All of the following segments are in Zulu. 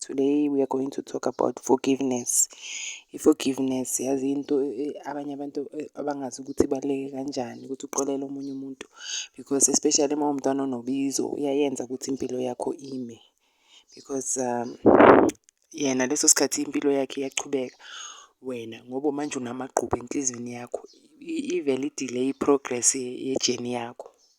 Today we are going to talk about forgiveness. I-forgiveness yazi into eh, abanye abantu eh, abangazi ukuthi ibaluleke kanjani ukuthi uxolele omunye umuntu because especially uma umntwana onobizo uyayenza ukuthi impilo yakho ime because um, yena leso sikhathi impilo yakhe iyaqhubeka wena ngoba manje unamagqubu enhliziyweni yakho ivele idelay i-progress yejeni yakho.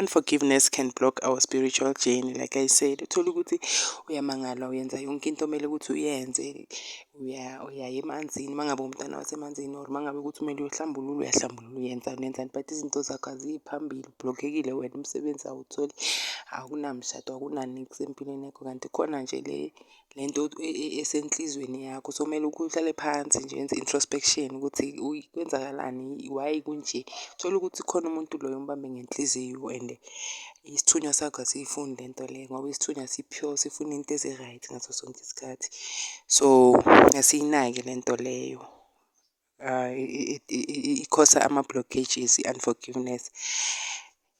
Unforgiveness can block our spiritual journey like I said. Uthole ukuthi uyamangala uyenza yonke into omele ukuthi uyenze. Uya uyaya emanzini uma ngabe uwumntana wasemanzini or uma ngabe ukuthi kumele uyohlambulula uyahlambulula uyenzani nenzani. But izinto zakho aziyi phambili ubhlokhekile wena umsebenzi awutholi akunamshado akunaniksi empilweni yakho kanti khona nje le. le nto esenhlizweni yakho. So kumele uhlale phansi nje wenze introspection ukuthi kwenzakalani, why kunje. Uthole ukuthi khona umuntu loyo ombambe ngenhliziyo and isithunywa sakho asiyifuni le nto le ngoba isithunywa si-pure sifuna into ezi-right ngaso sonke isikhathi. So asiyinaki le nto leyo. I-cause-a ama-blockages i-unforgiveness.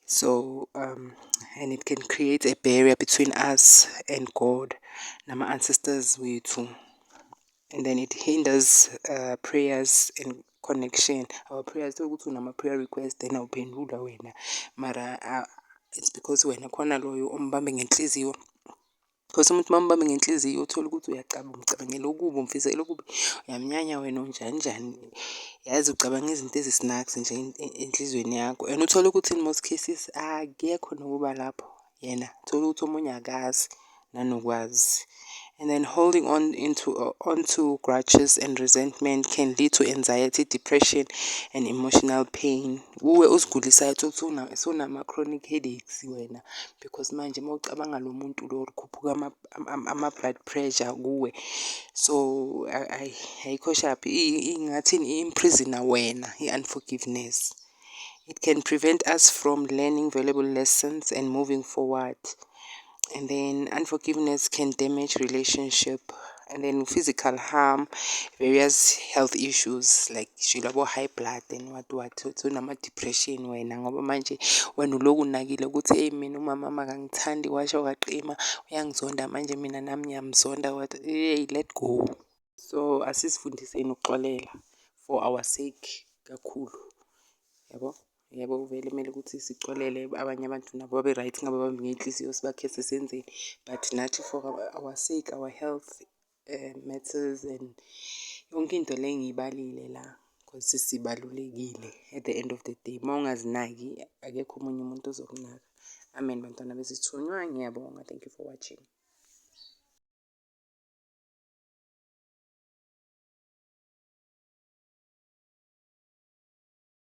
So and it can create a barrier between us and God nama-ancestors wethu. And then it hinders prayers and connection, our prayers. Tholukuthi unama-prayer request then awuphendulwa wena mara it's because wena khona loyo ombambe ngenhliziyo. Because umuntu uma umbambe ngenhliziyo uthole ukuthi uyacabanga, umcabangela okubi, umfisela okubi, uyamnyanya wena unjani njani. Yazi ucabanga izinto ezisinakzi nje enhlizweni yakho and uthole ukuthi in most cases akekho nokuba lapho yena. Uthole ukuthi omunye akazi nanokwazi. And then holding on into onto grudges and resentment can lead to anxiety, depression and emotional pain. Uwe uzigulisayo uthole ukuthi sewunama-chronic headaches wena. because manje uma ucabanga lo muntu lo kukhuphuka ama-blood pressure kuwe so ayi ayikho shaphi ingathini i-imprisoner wena i-unforgiveness. It can prevent us from learning valuable lessons and moving forward and then unforgiveness can damage relationship. and then physical harm various health issues like nje labo high blood and what what unama-depression wena ngoba manje wena uloku unakile ukuthi eyi mina umama wami akangithandi washo waqima uyangizonda manje mina nami ngiyamzonda what eyi let go so asizifundiseni ukuxolela for our sake kakhulu yabo. Yebo vele kumele ukuthi sixolele abanye abantu nabo babe right ngabe bambi ngey'nhliziyo sibakhese senzeni. But nathi for our sake our health matters and yonke into le engiyibalile la cause sibalulekile at the end of the day. Mawungazinaki akekho omunye umuntu ozokunaka. Amen bantwana bezithunywa ngiyabonga thank you for watching.